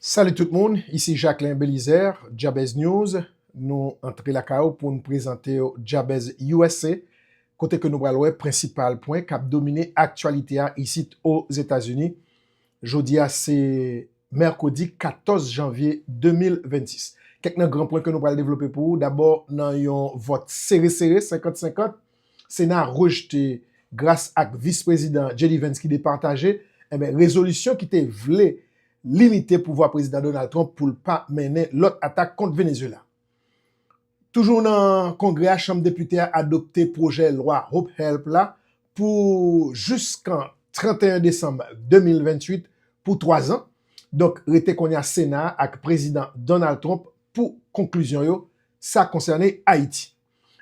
Salut tout moun, isi Jacquelin Belizaire, Jabez News, nou antre lakay ou poun prezantew Jabez usa, kote ke nou pral wè prensipal pwen kap domine aktyalite a isit Ozetazini. Jodi a se Mèkredi 14 Janvye 2026. Kèk nan gran pwen ke nou pral devlope pou ou, dabò nan yon vòt sere sere 50 50, Sena rejte gras ak Vis Prezidan JD Vance ki depataje, enben rezolisyon ki te vle limite pouvwa Prezidan Donald Trump pou l pa mennen lòt atak kont Venezuela. Toujou nan Kongrè a, Chanm Depite a adopte pwojè lwa Hope Help la pou jiskan 31 desanm 2028 pou 3 zan. Donk rete konnya Sena a ak Prezidan Donald Trump pou konklizyon yo sa konsène Ayiti.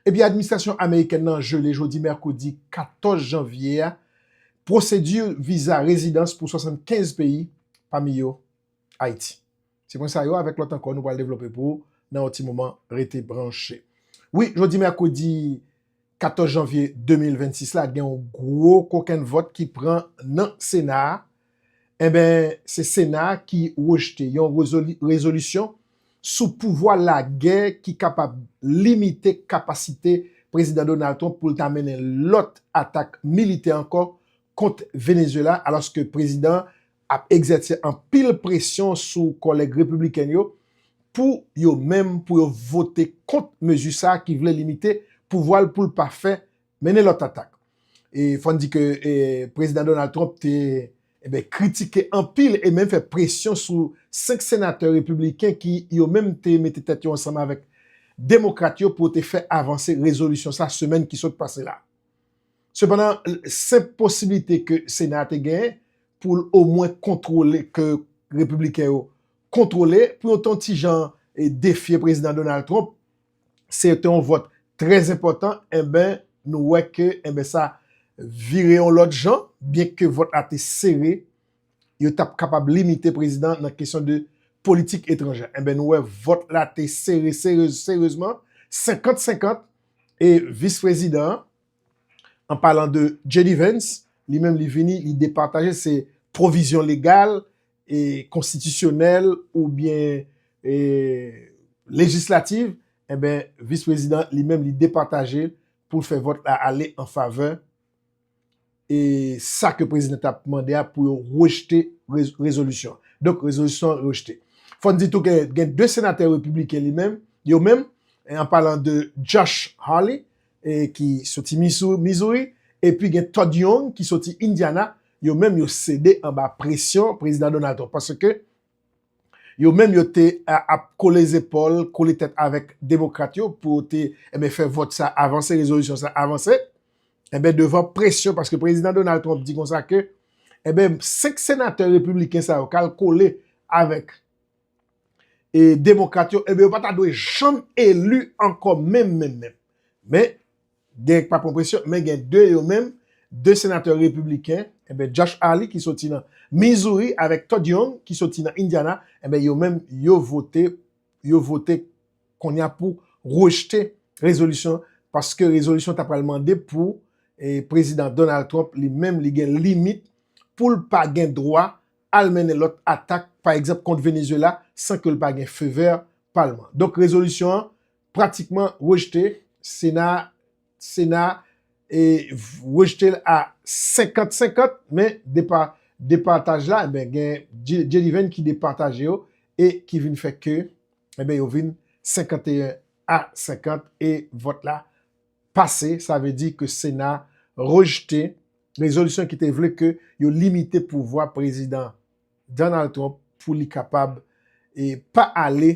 Epi administrasyon amerikèn nan jele jodi mèkredi 14 janvye a pwosedi viza rezidans pou 75 peyi, pami yo Ayiti. Se pwen sa yo avèk lòt ankò nou pral devlope pou ou nan yon ti moman, rete branche. Wi, jodi mèkredi 14 janvye 2026 la gen yon gwo kokenn vòt ki pran nan sena a Enben, se Sena a ki rejte yon rezolisyon sou pouvwa lagè ki kapab limite kapasite Prezidan Donald Trump pou l ta mennen lòt atak militè ankò kont Venezuela alòske prezidan an ap egzèse anpil presyon sou kòlèg repibliken yo pou yo menm pou yo vote kont mezi sa a ki vle limite pouvwa l pou l pa fè Mennen lòt atak. E fò n di ke Prezidan Donald Trump te kritike anpil e menm fè presyon sou 5 senatè repibliken ki yo menm te mete tèt yo ansanm avèk demokrat yo pou yo te fè avanse rezolisyon sa semèn ki sot pase la. Sepandan, senp posiblite ke Sena a te genyen pou l omwen kontwole, ke repibliken yo kontwole pou yo te yon ti jan defye Prezidan Donald Trump, se te yon vòt trè enpòtan enben nou wè ke enben sa vire yon lòt jan byenke vòt la te sere yo t ap kapab limite prezidan nan kesyon de politik etranjè enben nou wè vòt la te sere sere serezman senkant senkant e vis prezidan an an palan de JD Vance li menm li vini li depataje se pwovizyon legal konstitisyonèl oubyen lejislativ, enben Vis Prezidan li menm li depataje pou l fè vòt la ale an favè e sa ke Prezidan ta mande a pou yo rejte rezolisyon an. Donk rezolisyon an rejte. Fò n di tou ke gen 2 senatè repibliken li menm, yo menm, an palan de Josh Hawley ki soti Missouri, epi gen Todd Young ki soti Indiana, yo menm yo sede anba presyon Prezidan Donald Trump, paske yo menm yo te ap kole zepòl, kole tèt avèk Demokrat yo pou yo te fè vòt sa avanse, rezolisyon sa avanse, enben devan presyon, paske Prezidan Donald Trump di konsa ke, enben 5 senatè Repibliken sa yo kal kole avèk e demokrat yo enben yo pa ta dwe janm eli ankò menm menm menm. Men, gen k pa pran presyon, men gen 2 yo menm, 2 senatè repibliken, enben Josh Hawley ki soti nan Missouri avèk Todd Young ki soti nan Indiana, enben yo menm yo vote, yo vote kounye a pou rejte rezolisyon an paske rezolisyon an ta pral mande pou e prezidan Donald Trump li menm li gen limit pou l pa gen dwa al mennen lòt atak, pa egzanp kont Venezuela, san ke l pa gen feu vert palman. Donk rezolisyon an pratikman rejte, sena a sena a e rejte l a 50 50, men depa departaj la enben gen J-Divine ki departaje yo e ki vin fè ke enben yo vin 51 a 50 e vòt la pase, sa vle di ke Sena rejte rezolisyon ki te vle ke yo limite pouvwa Prezidan Donald Trump pou li kapab e pa ale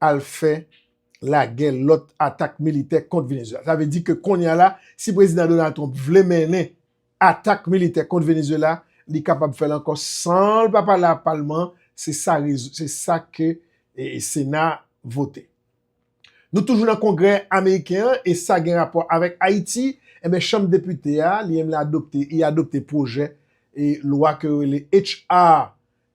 al fè lagè lòt atak militè kont Venezuela. Sa vle di ke kounye a la, si Prezidan Donald Trump vle mennen atak militè kont Venezuela, li kapab fè l ankò san l pa pale ak palman an, se sa ke Sena vote. Nou toujou nan kongrè ameriken an e sa gen rapò avèk Ayiti, enben chanm depite a li menm li adopte, li adopte pwojè e lwa ke yo rele HR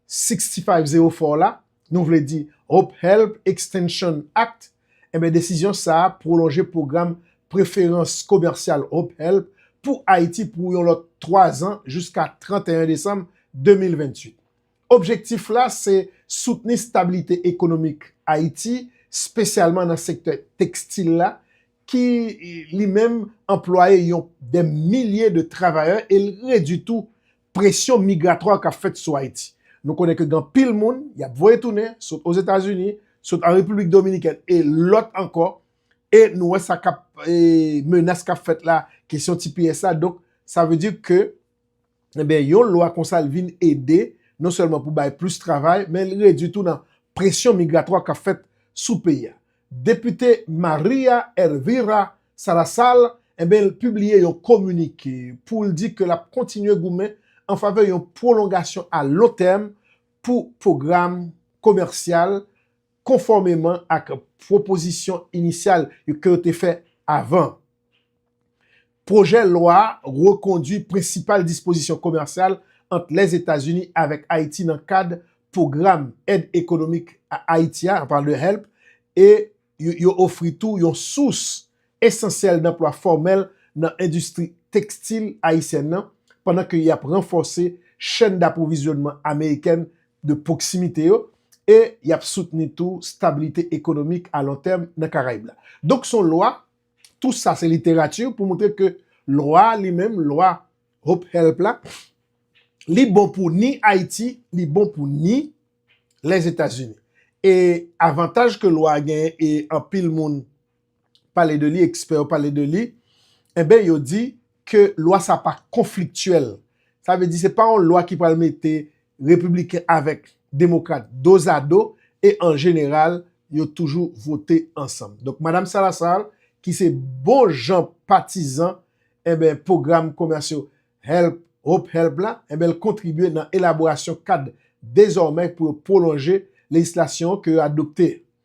6504 la, nou vle di Hope Help Extension Act, enben desizyon sa a pwolonje pwogram preferans komèsyal Hope Help pou Ayiti pou yon lòt 3 zan jiska 31 desanm 2028. Objektif la se soutni stabilite ekonomik Ayiti, spesyalman nan sektè tekstil la, ki li menm anplwaye yon dè milye de travayè e l redwi tou presyon migratwa k ap fèt sou Ayiti. Nou konnen ke gen anpil moun y ap voye tounen sot Ozetazini, sot an Repiblik Dominikèn e lòt ankò e nou wè sa k ap menas k ap fèt la, kesyon tps la donk sa vle di ke Enben, yon lwa konsa l vin ede non sèlman pou bay plis travay, men li redui tou nan presyon migratwa k ap fèt sou peyi a. Depite Maria Elvira Salazar, enben l pibliye yon kominike pou l di ke l ap kontinye goumen an favè yon pwolongasyon a lon tèm pou pwogram komèsyal konfòmeman ak pwopozisyon inisyal ke yo te fè avan. Pwojè lwa a rekondwi prensipal dispozisyon komèsyal ant Lèzetazini avèk Ayiti nan kad Pwogram Èd Ekonomik a Ayiti a, anpawòl de help, e yo ofri tou yon sous esansyèl danplwa fòmèl nan endistri tekstil ayisyèn nan, pandan ke y ap ranfòse chèn dapwovizyonnman amerikèn de pwoksimite yo e y ap soutni tou stabilite ekonomik alontèm nan Karayib la. Donk s on lwa Tou sa se literati pou moutre ke lwa a li menm, lwa Hope Help la, li bon pou ni Ayiti, li bon pou ni Lèzetazini. E avantaj ke lwa a genyen e anpil moun pale de li, ekspè yo pale de li, enben yo di, ke lwa sa pa konfliktyèl. Sa vle di se pa yon lwa ki pral mete Repibliken avèk Demokrat dozado e an jeneral yo toujou vote ansanm. Donk Madam Salazar ki se bon jan patizan enben pwogram komèsyo help, hope help la, enben l kontribye nan elaborasyon kad dezòmè pou yo pwolonje lejislasyon ke yo adopte.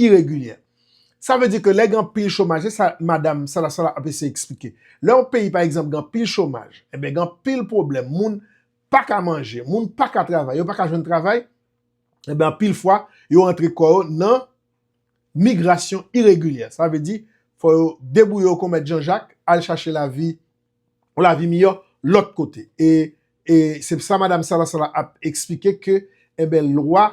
iregilyè. Sa vle di ke lè gen anpil chomaj, se sa madam Salah Salah ap eseye eksplike. Lè yon peyi pa egzanp gen anpil chomaj, enben gen anpil pwoblèm, moun pa ka manje, moun pa ka travay, yo pa ka jwenn travay, enben anpil fwa yo rantre kò yo nan migrasyon iregilyè. Sa vle di, fò yo debouye yo kon mèt Jan Jak, al chache lavi, yon lavi miyò lòt kote. E, e, se sa madam Salah Salah ap eksplike ke, enben lwa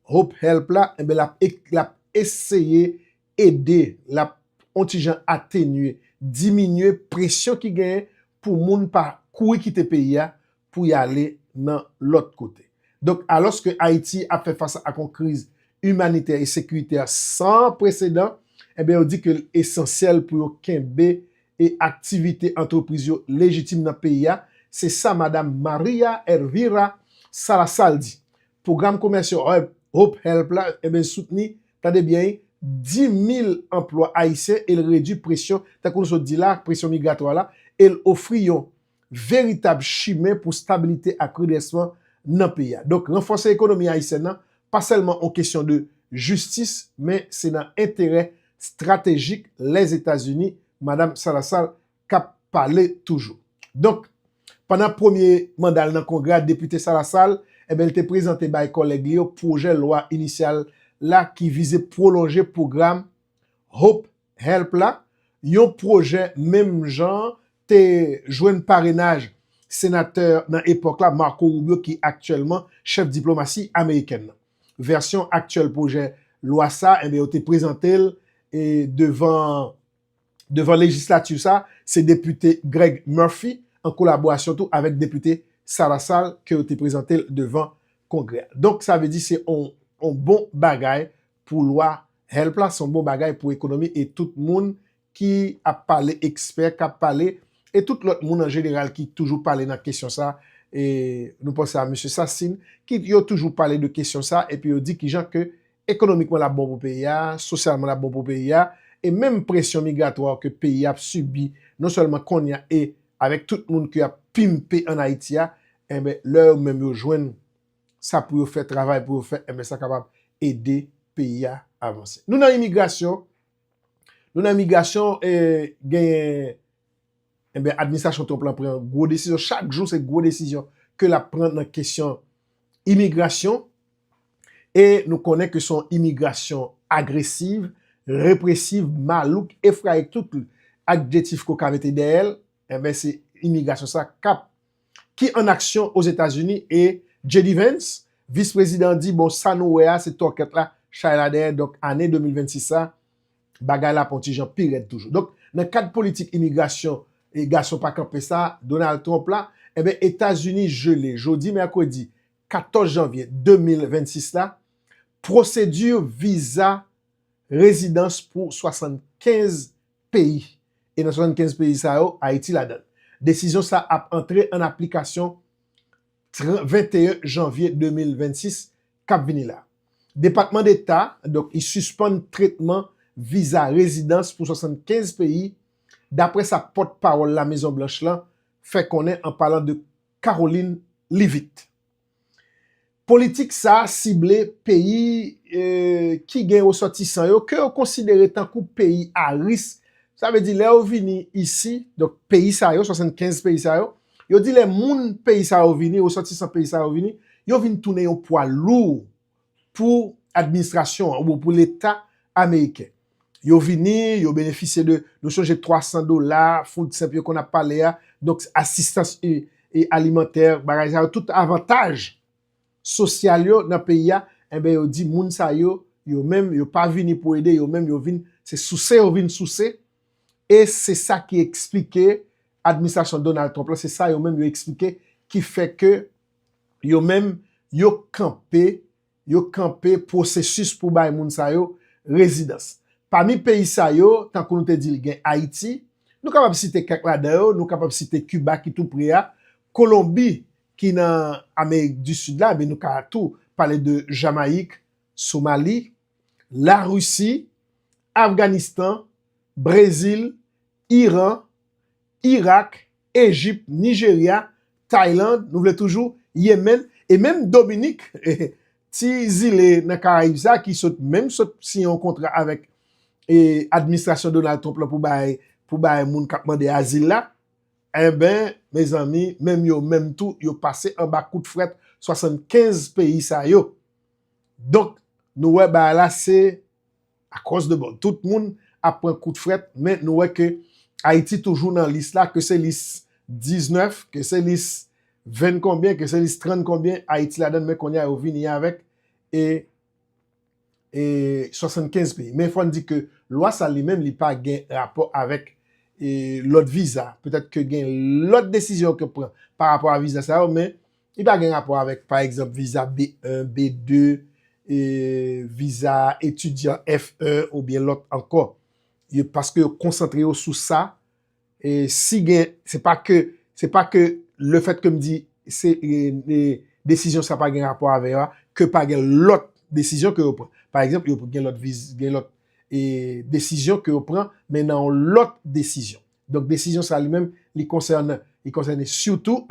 Hope Help la, enben lap e, lap eseye ede, lap on ti jan atenye, diminye presyon ki genyen pou moun pa kouri kite peyi a pou y ale nan lòt kote. Donk, alòs ke Ayiti ap fè fas ak on kriz imanitè e sekiritè san presedan, enben yo di ke l esansyèl pou yo kenbe e aktivite antrepriz yo lejitim nan peyi a, se sa Madam Maria Elvira Salazar di, Pwogram komèsyò Hope Help la eben soutni, tande byen wi, 10 mil anplwa ayisyen e l redui presyon, tankou nou sot di la, presyon migratwa la e l ofri yon veritab chimen pou stabilite ak redrèsman nan peyi a. Donk ranfòse ekonomi ayisyèn nan pa sèlman on kesyon de jistis men se nan enterè stratejik Lèzetazini, Madam Salazar k ap pale toujou. Donk, pandan premye manda l nan Kongrè a, Depite Sa Lasal, enben l te prezante bay kòlèg li yo pwojè lwa inisyal la ki vize pwolonje pwogram Hope Help la, yon pwojè menm jan an te jwenn parenaj senatè nan epòk la, Marco Rubio ki aktyèlman chèf diplomasi amerikèn nan. Vèsyon aktyèl pwojè lwa sa a, enben yo te prezante l devan. devan lejislati sa, se depite Greg Murphy an kolaborasyon tou avèk depite Salasal ke yo te prezante l devan Kongrè a. Donk sa vle di se yon bon bagay pou lwa help la, se yon bon bagay pou ekonomi e tout moun ki ap pale, ekspè k ap pale e tout lòt moun an jeneral ki toujou pale nan kesyon sa e nou panse a Mesye Sassine ki yo toujou pale de kesyon sa epi yo di kijan ke Ekonomikman l ap bon pou peyi a, sosyalman l ap bon pou peyi a, e menm presyon migratwa ke peyi a ap sibi non sèlman konnya e avèk tout moun ke y ap pimpe an Ayiti a, enben lè yo menm yo jwenn sa pou yo fè, travay pou yo fè, enben sa kapab ede peyi a avanse. Nou nan imigrasyon, nou nan imigrasyon e genyen. Enben administrasyon Trump lan pran gwo desizyon, chak jou se gwo desizyon ke lap pran nan kesyon imigrasyon e nou konnen ke son imigrasyon agresiv, represiv, malouk, efrayik, tout adjetif ke w ka mete dèyè l, enben se imigrasyon sa kap ki an aksyon Ozetazini e JD Vance, vis prezidan di bon sa nou wè a se tòkèt la chay la dèyè donk ane 2026 sa bagay la ap on ti jan pi rèd toujou. Donk, nan kad politik imigrasyon e gason pa kanpe sa a, Donald Trump la, enben Etazini jele jodi mèkredi 14 janvye 2026 la, pwosedi viza rezidans pou 75 peyi. E nan 75 peyi sa yo, Ayiti ladan l. Desizyon sa a ap antre an aplikasyon 21 janvye 2026. k ap vini la. Depatman Deta donk li sispann tretman viza rezidans pou 75 peyi, dapre sa pòt pawòl La Mezon Blanch lan fè konnen an palan de Karoline Leavitt. Politik sa a sible peyi ki gen resòtisan yo ke yo konsidere tankou peyi a risk, sa vle di lè yo vini isi, donk peyi sa yo, 75 peyi sa yo, Yo di lè moun peyi sa yo vini, resòtisan peyi sa yo vini, yo vin tounen yon pwa lou pou administrasyon an oubyen pou leta ameriken. Yo vini, yo benefisye de, nou sonje 300 dola, food stamp yo konn ap pale a, donk asistans alimantè, bagay sa yo, tout avantaj sosyal yo nan peyi a, enben yo di moun sa yo, yo menm yo pa vini pou ede, yo menm yo vin, se souse yo vin souse, E se sa ki eksplike administrasyon Donald Trump la, se sa yo menm yo eksplike ki fè ke yo menm yo kanpe, yo kanpe pwosesis pou bay moun sa yo rezidans. Pami peyi sa yo, tankou nou te di l gen Ayiti, nou kapab site kèk ladan yo, nou kapab site Kiba ki tou pre a, Kolonbi ki nan Amerik di Sid la, men nou ka tou pale de Jamayik, Somali. Larisi, Afganistan, Brezil, Iran, Irak, Ejip, Nijerya, Tayland, nou vle toujou, Yemen, e menm Dominik, ti zile nan Karayib sa ki sot menm sot siyen yon kontra avèk administrasyon Donald Trump la pou bay moun k ap mande azil la, enben, mezanmi, menm yo menm tou yo pase anba kout frèt 75 peyi sa yo. Donk nou wè bagay la se akòz de bon tout moun ap pran kout frèt men nou wè ke Ayiti toujou nan lis la ke se lis 19, ke se lis 20 konbyen, ke se lis 30 konbyen Ayiti ladann men kounye a yo vini avèk e 75 peyi. Men fòn di ke lwa sa li menm li pa gen rapò avèk lòt viza. Petèt ke gen lòt desizyon ke pran pa rapò a viza sa yo men Li pa gen rapò avèk, pa egzanp, viza B1, B2, viza etidyan F1 oubyen lòt ankò. Paske yo konsantre yo sou sa, si gen, se pa ke, se pa ke le fèt ke m di se desizyon sa pa gen rapò avè yo a, ke pa gen lòt desizyon ke yo pran. Pa egzanp, yo gen lòt viz, gen lòt desizyon ke yo pran, men nan yon lòt desizyon. Donk desizyon sa li menm, li konsènen, li konsènen sitou.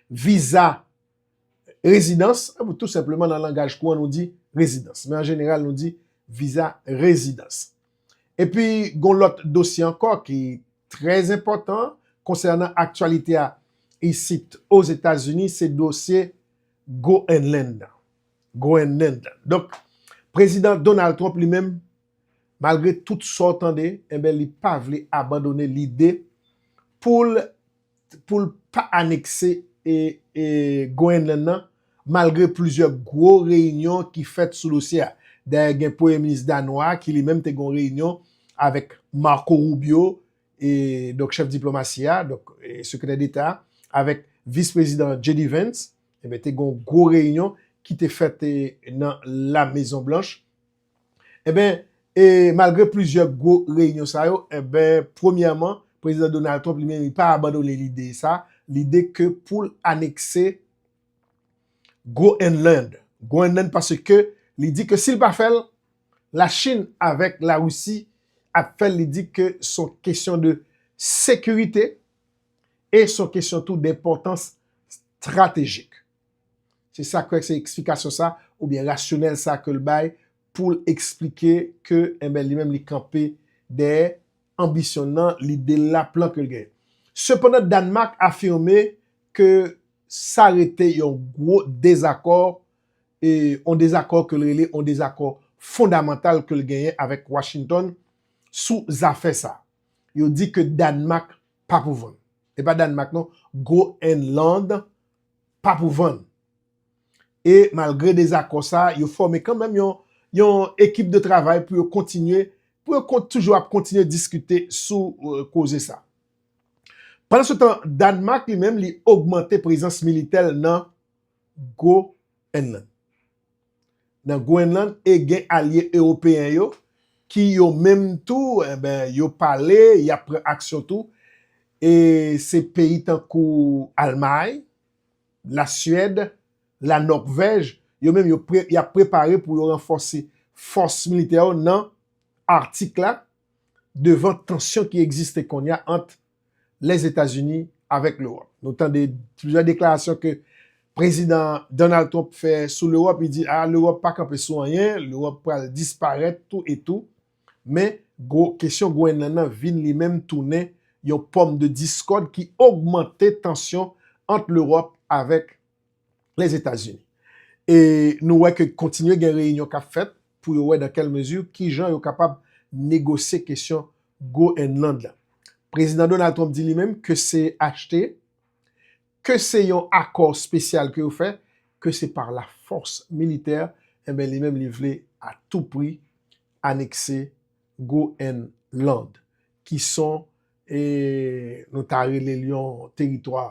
viza rezidans, ou tou senpleman nan langaj kouran nou di rezidans. Men an jeneral nou di viza rezidans. E pi gon lòt dosye ankò ki trè enpòtan konsènan aktyalite a isit Ozetazini se dosye Groenland nan. Groenland nan. Donk, Prezidan Donald Trump li menm, malgre tout sa w tande, enben li pa vle abandone lide pou l pou l pa anekse Goyenlann nan malgre plizyè gwo reyinyon ki fèt sou dosye a. Dayè gen premye minis danwa a ki li menm te gen yon reyinyon avèk Marco Rubio, donk chèf diplomasi a, donk sekretè deta a, avèk vis prezidan JD Vance, te gen yon gwo reyinyon ki te fèt nan la mezon blanch. Enben, e malgre plizyè gwo reyinyon sa yo, enben, premyèman, Prezidan Donald Trump li menm li pa abandone lide sa, lide ke pou l anekse Groenland. Groenland paske li di ke si l pa fè l, Lachin avèk Larisi ap fè l, li di ke s on kesyon de sekirite e s on kesyon tou denpòtans stratejik. Se sak fè se eksplikasyon sa oubyen rasyonèl sa ke l bay pou l eksplike ke enben li menm li kanpe dèyè anbisyon l nan, lide l la, plan ke l genyen. Sepandan Dànmak afime ke sa rete yon gwo dezakò, yon dezakò ke l rele yon dezakò fondamantal ke l genyen avèk Washington sou zafè sa. Yo di ke Dànmak pa pou vann. E pa Dànmak non, Groenland pa pou vann. E malgre dezakò sa, yo fòme kanmèm yon ekip de travay pou yo kontinye, pou yo toujou ap kontinye diskite sou koze sa. Pandan se tan, Dànmak li menm li ogmante prezans militè l nan Groenland. nan Gwenlann e gen alye ewopeyen yo ki yo menm tou enben yo pale y ap pran aksyon tou e se peyi tankou Almay, Lasuèd, Lanòkvèj yo menm yo y ap prepare pou yo ranfòse fòs militè yo nan Artik la devan tansyon ki egziste konnya ant Lèzetazini avèk Lewòp. Nou tande plizyè deklarasyon ke Prezidan Donald Trump fè sou Lewòp, li di a Lewòp pa kanpe sou anyen, Lewòp pral disparèt tou e tou. Men, gwo kesyon Gwenlàn nan vin li menm tounen yon pòm de diskòd ki ogmante tansyon ant Lewòp avèk Lèzetazini. E nou wè ke kontinye gen reyinyon k ap fèt pou yo wè dan kèl mezi ki jan yo kapab negosye kesyon Groenland la. Prezidan Donald Trump di li menm ke se achte, ke se yon akò spesyal ke yo fè, ke se par la fòs militè, enben li menm li vle a tou pri anekse Groenland ki son e nou ta rele l yon teritwa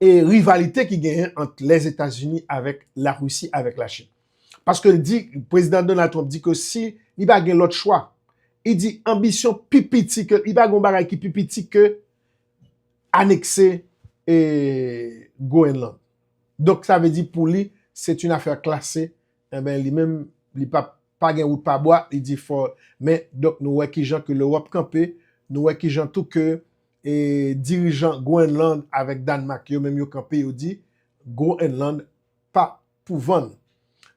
e rivalite ki genyen ant Lèzetazini avèk Larisi avèk Lachin. Paske l di, Prezidan Donald Trump di ke si li pa gen lòt chwa, li di anbisyon pi piti ke, li pa gen yon bagay ki pi piti ke anekse Groenland. Donk sa vle di pou li, c'est une affaire classée, enben li menm li pa p, pa gen wout pa bwa, li di fò men, donk nou wè kijan ke Lewòp kanpe, nou wè kijan tou ke E dirijan Groenland avèk Dànmak yo menm yo kanpe yo di Groenland pa pou vann.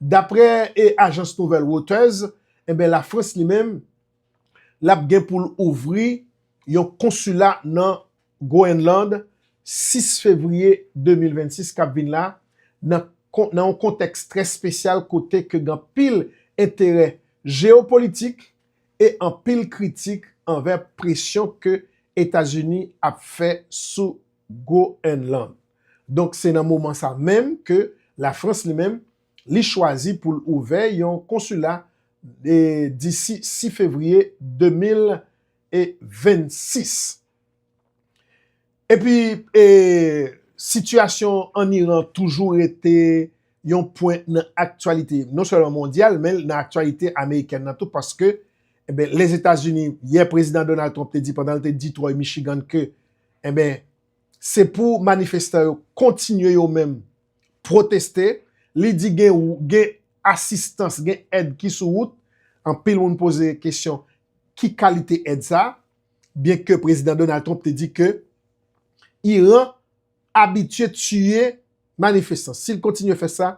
Daprè e ajans nouvèl Reuters, enben Lafrans li menm lap gen pou l ouvri yon konsila nan Groenland 6 fevriye 2026 kap vin la nan nan yon kontèks trè spesyal kote ke gen anpil enterè jeopolitik e anpil kritik anvè presyon ke Etazini ap fè sou Groenland. Donk se nan moman sa menm ke Lafrans li menm li chwazi pou l ouvè yon konsila disi 6 fevriye 2026. Epi, sitiyasyon ann Iran toujou rete yon pwen nan aktyalite non sèlman mondyal men nan aktyalite amerikèn nan tou paske Lèzetazini, yè Prezidan Donald Trump te di pandan l te Detroit, Michigan ke se pou manifestan yo kontinye yo menm pwoteste, li di gen asistans, gen èd ki sou wout, anpil moun poze kesyon ki kalite èd sa a? byen ke Prezidan Donald Trump te di ke Iran abitye tiye manifestan, si l kontinye fè sa,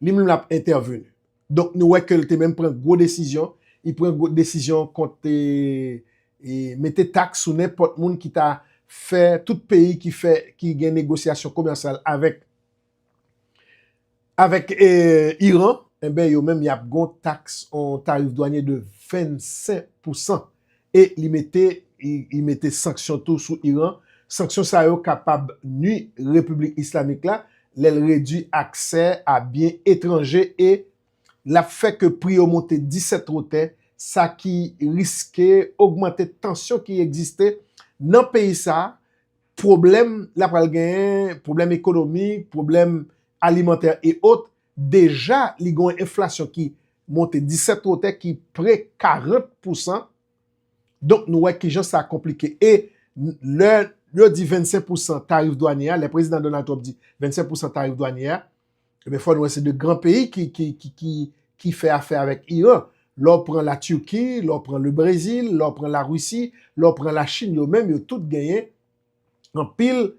li menm l ap entèveni. Donk nou wè ke l te menm pran gwo desizyon, li pran gwo desizyon kont mete taks sou nenpòt moun ki ta fè, tout peyi ki fè, ki gen negosyasyon komèsyal avèk. Avèk Iran, enben yo menm y ap gon taks, on tarif dwanye de 25 pousan e li mete li mete sanksyon tou sou Iran. Sanksyon sa yo kapab nui Repiblik Islamik la lè l redui aksè a byen etranje e l ap fè ke pri yo monte 17 wotè, sa ki riske ogmante tansyon ki egziste nan peyi sa a. pwoblèm l ap pral genyen, pwoblèm ekonomik, pwoblèm alimantè e ot, deja li gen yon enflasyon ki monte disèt wotè ki pre 40 pousan, donk nou wè kijan sa konplike e lè yo di 25 pousan tarif dwanye a, lè prezidan Donald Trump di 25 pousan tarif dwanye a, Ebyen fò nou wè se 2 gran peyi ki fè afè avèk Iran. Lè w pran la Turki, lè w pran le Brezil, lè w pran la Risi, lè w pran la Chin yo menm yo tout genyen anpil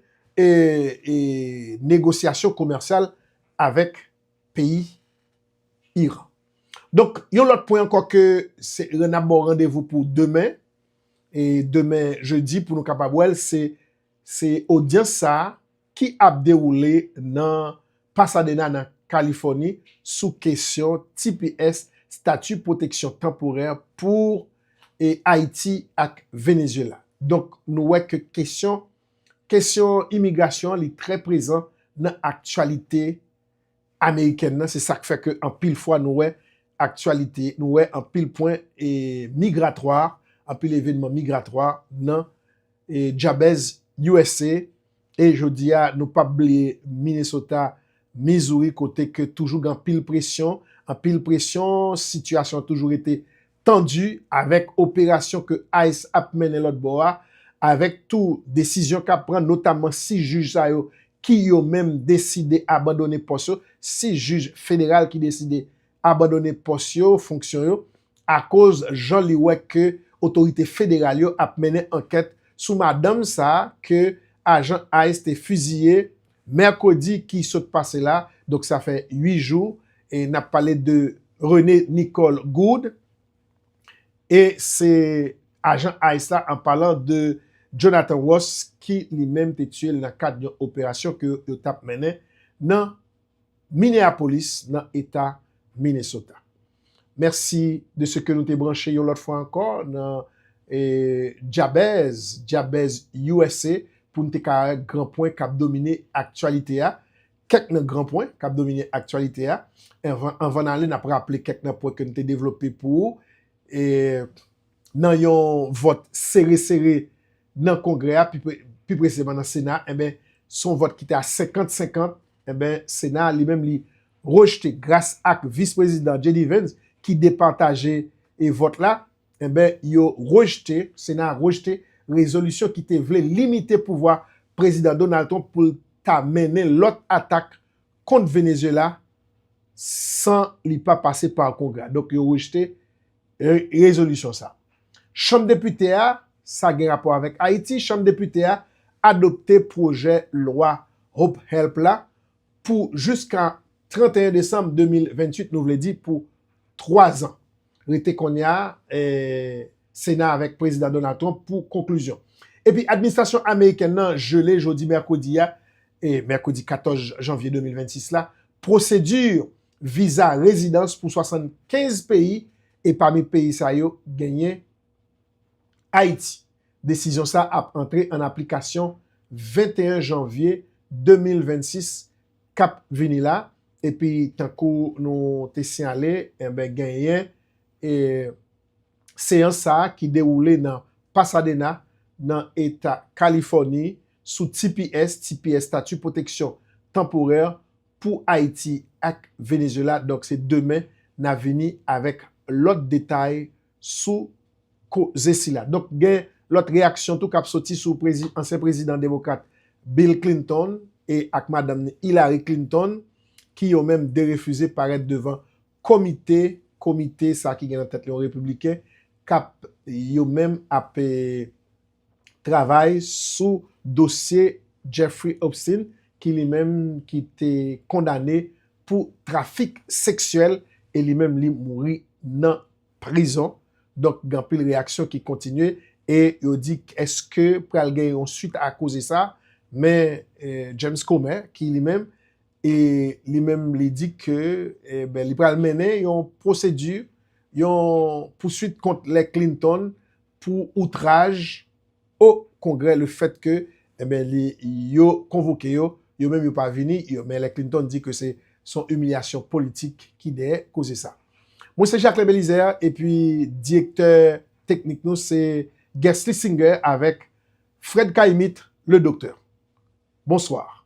negosyasyon komèsyal avèk peyi Iran. Donk yon lòt pwen ankò ke n ap ba w randevou pou demen, demen jedi pou nou kapab wè l se odyans sa ki ap dewoule nan Pasadena nan Kalifòni sou kesyon tps, Statut Protection Temporaire pour Haiti ak Venezuela. Donk nou wè ke kesyon kesyon imigrasyon li trè prezan nan aktyalite Amerikèn nan se sak fè ke anpil fwa nou wè aktyalite nou wè anpil pwen migratwa anpil evenman migratwa nan djabèz usa e jodi a nou pap bliye Minnesota Missouri kote ke toujou gen anpil presyon anpil presyon sitiyasyon toujou rete tandi avèk operasyon ke ice ap mennen lòt bò a, avèk tou desizyon k ap pran notamman si jij sa yo ki yo menm deside abandone pòs yo, 6 jij federal ki deside abandone pòs yo, fonksyon yo, akoz jan li wè ke otorite federal yo ap mennen ankèt sou madanm sa ke ajan ice te fiziye Mèkredi ki sot pase la, donk sa fè 8 jou, e n ap pale de René Nicole Gourde, e se ajan ice la an palan de Jonathan Ross ki li menm te tiye l nan kad yon operasyon ke yo t ap mennen nan Minneapolis nan eta Minnesota. Mèsi de seke nou te branche yon lòt fwa ankò nan Djabèz, Djabèz usa, pou n te ka wè gran pwen k ap domine aktyalite a, kèk nan gran pwen k ap domine aktyalite a. Anvan n ale, n ap raple kèk nan pwen ke n te devlope pou ou. Nan yon vòt sere sere nan Kongrè a, pi presizeman nan Sena, se yon vòt ki te a 50 50 Enben, Sena a li menm li rejte gras ak Vis Prezidan JD Vance ki depataje e vòt la, enben yo rejte, Sena a rejte rezolisyon ki te vle limite pouvwa Prezidan Donald Trump pou l ta mennen lòt atak kont Venezuela san li pa pase pa Kongrè a. Donk yo rejte Rezolisyon sa. Chanm Depite a, Sa gen rapò avèk Ayiti, Chanm Depite a adopte pwojè lwa Hope Help la pou jiska 31 desanm 2028, nou vle di pou twa zan. Rete konnya Sena avèk Prezidan Donald Trump pou konklizyon. Epi administrasyon amerikèn nan jele jodi mèkredi a, mèkredi 14 janvye 2026 la, pwosedi viza rezidans pou 75 peyi e pami peyi sa yo genyen Ayiti. Desizyon sa ap antre an aplikasyon 21 janvye 2026 k ap vini la epi tankou nou te siyale enben genyen seyans sa ki dewoule nan Pasadena nan eta Kalifòni sou tps, TPS, Stati Pwoteksyon Tanporè pou Ayiti ak Venezuela donk se demen na vini avèk lòt detay sou koze sila. Donk gen lòt reyaksyon tou kap soti sou ansyen prezidan demokrat Bill Clinton e ak madanm ni Hillary Clinton ki yo menm derefize parèt devan komite komite sa ki gen nan tèt li yon repibliken kap yo menm ap travay sou dosye Jeffrey Opstein ki li menm ki te kondane pou trafik seksyèl e li menm li mouri nan prizon. Donk gen anpil reyaksyon ki kontinye e yo di eske pral gen yon swit a koze sa men James Comer ki li menm e li menm li di ke li pral mennen yon pwosedi yon pouswit kont lè Clinton pou outraj o kongrè le fèt ke enben li yo konvoke yo, yo menm yo pa vini, yo men lè Clinton di ke se son imilyasyon politik ki dèyè koze sa. Mwen se Jacquelin Belizaire epi direktè teknik nou se Guesly Singer avèk Fred K-Imit le Doktè. Bonsoir.